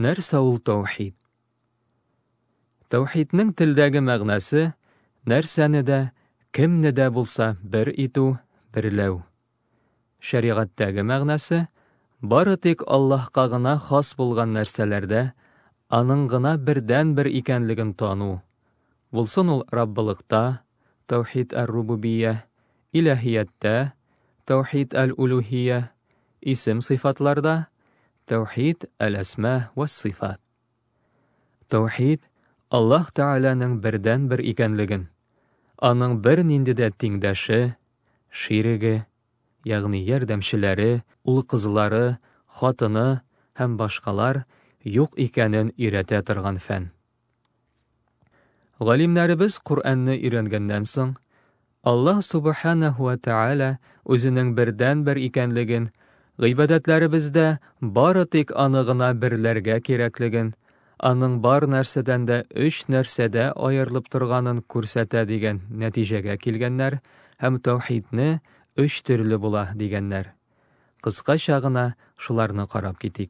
Нәрсә ул таухид? Таухидның телдәге мәгънәсе нәрсәне дә, кемне дә булса бер итү, берләү. Шәригатьтәге мәгънәсе бары тик Аллаһка гына хас булган нәрсәләрдә аның гына бердән-бер икәнлеген тану. Булсын ул Раббылыкта, таухид ар-рубубия, Иләһияттә, Тәүхид әл-Улүһия, исем-сыйфатларда, Тәүхид әл-Әсма вәс-Сыйфат. Тәүхид, Аллаһ Тәгаләнең бердәнбер икәнлеген, аның бернинди дә тиңдәше, ширеге, ягъни ярдәмчеләре, ул-кызлары, хатыны һәм башкалар юк икәнен өйрәтә торган фән. Галимнәребез Коръәнне өйрәнгәннән соң, Аллаһ Субханаһу ва Тәгалә үзенең бердән-бер икәнлеген, гыйбадәтләребездә бары тик аны гына берләргә кирәклеген, аның бар нәрсәдән дә өч нәрсәдә аерылып торганын күрсәтә дигән нәтиҗәгә килгәннәр һәм таухидны өч төрле була дигәннәр. Кыскача гына шуларны карап китик.